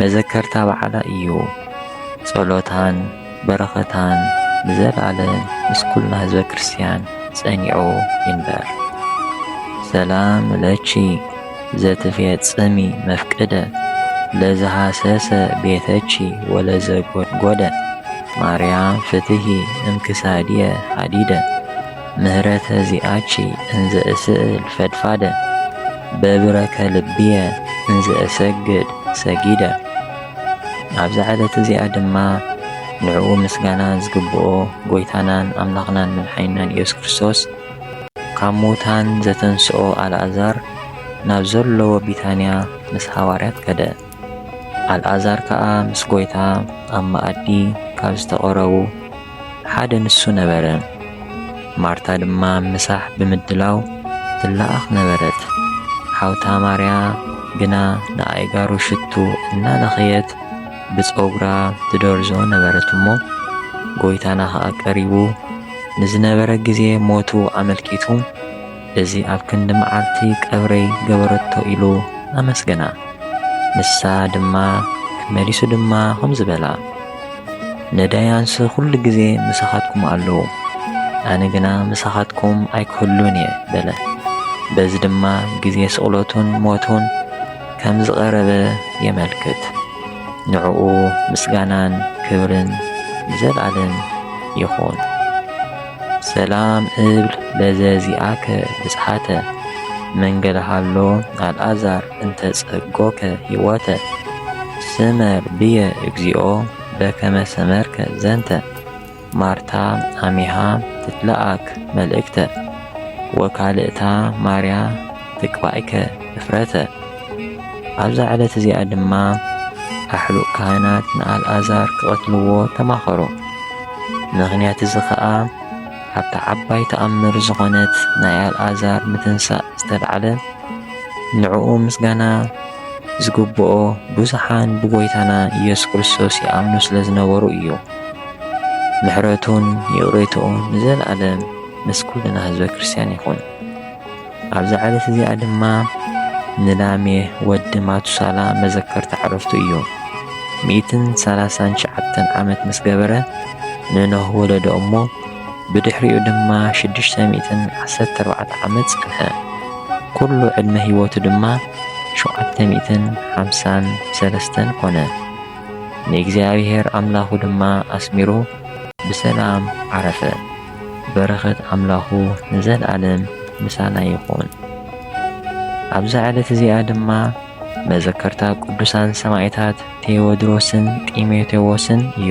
መዘከርታ በዓላ እዩ ጸሎታን በረኸታን ንዘልኣለም ምስ ኩልና ህዝበ ክርስትያን ጸኒዑ ይንበር። ሰላም ለኪ ዘትፌጽሚ መፍቅደ ለዝሃሰሰ ቤተኪ ወለዘጎድጎደ ማርያም ፍትሂ እምክሳድየ ሃዲደ ምህረተ ዚኣኪ እንዘ እስእል ፈድፋደ በብረከ ልብየ እንዘ እሰግድ ሰጊደ ኣብዛ ዕለት እዚኣ ድማ ንዕኡ ምስጋና ዝግብኦ ጎይታናን ኣምላኽናን መድሓኒናን ኢየሱስ ክርስቶስ ካብ ምዉታን ዘተንስኦ ኣልኣዛር ናብ ዘለዎ ቢታንያ ምስ ሃዋርያት ከደ። ኣልኣዛር ከኣ ምስ ጐይታ ኣብ መኣዲ ካብ ዝተቐረቡ ሓደ ንሱ ነበረ። ማርታ ድማ ምሳሕ ብምድላው ትለኣኽ ነበረት፣ ሓውታ ማርያ ግና ንኣእጋሩ ሽቱ እናለኸየት ብጸጕራ ትደርዞ ነበረት እሞ፣ ጐይታና ኸኣ ቀሪቡ ንዝነበረ ግዜ ሞቱ ኣመልኪቱ እዚ ኣብ ክንዲ መዓልቲ ቀብረይ ገበረቶ ኢሉ ኣመስገና። ንሳ ድማ መሊሱ ድማ ከምዚ በላ፣ ነዳያንስ ኩሉ ግዜ ምሳኻትኩም ኣለዉ፣ ኣነ ግና ምሳኻትኩም ኣይክህሉን እየ በለ። በዚ ድማ ግዜ ስቕለቱን ሞቱን ከም ዝቐረበ የመልክት። ንዕኡ ምስጋናን ክብርን ንዘልኣለም ይኹን። ሰላም እብል ለዘዚኣከ ብጽሓተ መንገለ ሃሎ ኣልኣዛር እንተ ጸጎከ ሕይወተ ስመር ብየ እግዚኦ በከመ ሰመርከ ዘንተ ማርታ ኣሚሃ ትትለኣክ መልእክተ ወካልእታ ማርያ ትቅባኢከ እፍረተ። ኣብዛ ዕለት እዚኣ ድማ ኣሕሉቕ ካህናት ንኣልኣዛር ክቐትልዎ ተማኸሩ። ምኽንያት እዚ ኸኣ ኣብታ ዓባይ ተኣምር ዝኾነት ናይ ኣልኣዛር ምትንሳእ ዝተልዓለ ንዕኡ ምስጋና ዝግብኦ ብዙሓን ብጎይታና ኢየሱስ ክርስቶስ ይኣምኑ ስለ ዝነበሩ እዩ። ምሕረቱን ይቕሬትኡን ንዘለኣለም ምስ ኩልና ህዝበ ክርስቲያን ይኹን። ኣብዛ ዕለት እዚኣ ድማ ንላሜ ወዲ ማቱሳላ መዘከርታ ዕረፍቱ እዩ። ሚእትን ሰላሳን ሸዓተን ዓመት ምስ ገበረ ንኖህ ወለዶ እሞ ብድሕሪኡ ድማ ሽዱሽተ ሚእትን ዓሰርተ ኣርባዕተ ዓመት ጸንሐ። ኩሉ ዕድመ ህይወቱ ድማ ሸውዓተ ሚእትን ሓምሳን ሰለስተን ኮነ። ንእግዚኣብሔር ኣምላኹ ድማ ኣስሚሩ ብሰላም ዓረፈ። በረኸት ኣምላኹ ንዘልኣለም ምሳና ይኹን። ኣብዛ ዕለት እዚኣ ድማ መዘከርታ ቅዱሳን ሰማዕታት ቴዎድሮስን ጢሞቴዎስን እዩ።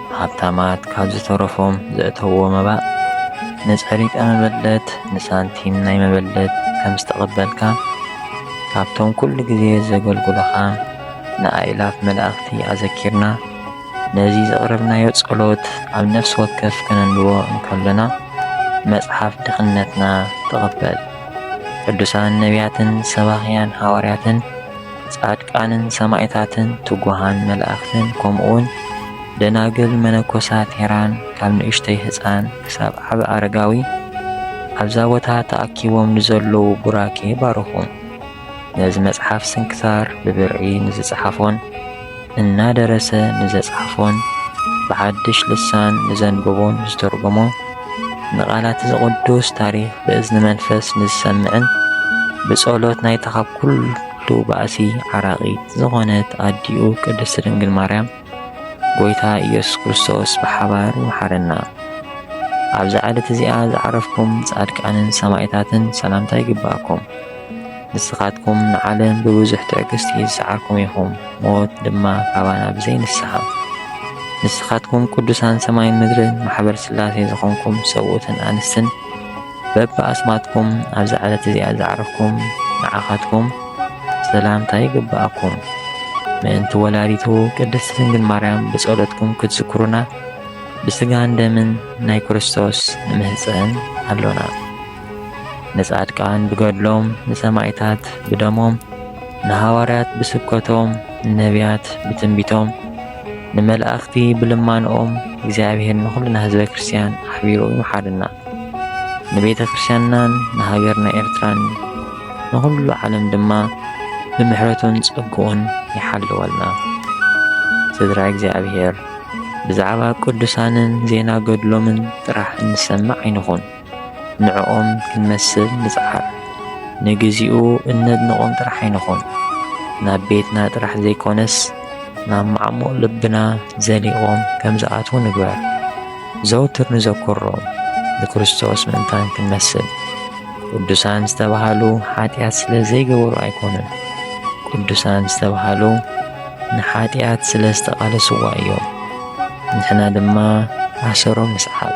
ሃብታማት ካብ ዝተረፎም ዘእተውዎ መባእ ንጸሪቀ መበለት ንሳንቲም ናይ መበለት ከም ዝተቐበልካ ካብቶም ኩሉ ግዜ ዘገልግሉኻ ንኣእላፍ መላእኽቲ ኣዘኪርና ነዚ ዘቕረብናዮ ጸሎት ኣብ ነፍሲ ወከፍ ከነንብቦ እንከሎና መጽሓፍ ድኽነትና ተቐበል ቅዱሳን ነቢያትን ሰባኽያን ሃዋርያትን ጻድቃንን ሰማኢታትን ትጉሃን መላእክትን ከምኡውን ደናግል መነኮሳት ሄራን ካብ ንእሽተይ ህጻን ክሳብ ዓቢ ኣረጋዊ ኣብዛ ቦታ ተኣኪቦም ንዘለዉ ቡራኬ ባርኹ። ነዚ መጽሓፍ ስንክሳር ብብርዒ ንዝጸሓፎን እናደረሰ ንዘጽሓፎን ብሓድሽ ልሳን ንዘንበቦን ዝተርጎሞ፣ ንቓላት'ዚ ቅዱስ ታሪኽ ብእዝኒ መንፈስ ንዝሰምዕን፣ ብጸሎት ናይታ ካብ ኩሉ ባእሲ ዓራቒት ዝኾነት ኣዲኡ ቅድስት ድንግል ማርያም፣ ጎይታ ኢየሱስ ክርስቶስ ብሓባር ይምሓረና። ኣብዛ ዕለት እዚኣ ዝዓረፍኩም ጻድቃንን ሰማኢታትን ሰላምታ ይግብኣኩም። ንስኻትኩም ንዓለም ብብዙሕ ትዕግስቲ ዝሰዓርኩም ኢኹም፣ ሞት ድማ ካባና ብዘይ ንስሓ። ንስኻትኩም ቅዱሳን ሰማይን ምድርን ማሕበር ስላሴ ዝኾንኩም ሰብኡትን ኣንስትን በብኣስማትኩም ኣብዛ ዕለት እዚኣ ዝዓረፍኩም ንዓኻትኩም ሰላምታ ይግብኣኩም። ምእንቲ ወላዲቱ ቅድስቲ ድንግል ማርያም ብጸሎትኩም ክትዝክሩና ብስጋን ደምን ናይ ክርስቶስ ንምህፀን ኣሎና። ንጻድቃን ብገድሎም ንሰማይታት ብደሞም ንሃዋርያት ብስብከቶም ንነብያት ብትንቢቶም ንመላእኽቲ ብልማንኦም እግዚኣብሔር ንኹልና ህዝበ ክርስቲያን ኣሕቢሩ ይምሓርና ንቤተ ክርስቲያንናን ንሃገርና ኤርትራን ንኹሉ ዓለም ድማ ብምሕረቱን ጸግኡን ይሓልወልና ስድራ እግዚኣብሔር ብዛዕባ ቅዱሳንን ዜና ገድሎምን ጥራሕ እንሰምዕ ኣይንኹን ንዕኦም ክንመስል ንጽዓር። ንግዚኡ እነድንቖም ጥራሕ ኣይንኹን፣ ናብ ቤትና ጥራሕ ዘይኮነስ ናብ ማዕሙቕ ልብና ዘሊቖም ከም ዝኣትዉ ንግበር። ዘውትር ንዘክሮም ንክርስቶስ ምእንታን ክንመስል። ቅዱሳን ዝተባህሉ ሓጢኣት ስለ ዘይገበሩ ኣይኮኑን። ቅዱሳን ዝተባህሉ ንሓጢኣት ስለ ዝተቓለስዋ እዮም። ንሕና ድማ ኣሰሮም ንስዓብ።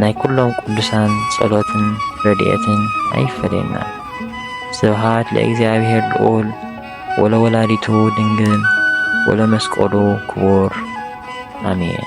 ናይ ኩሎም ቅዱሳን ጸሎትን ረድኤትን ኣይፈለየና። ስብሃት ለእግዚኣብሔር ልዑል ወለወላዲቱ ድንግል ወለመስቀሉ ክቡር ኣሜን።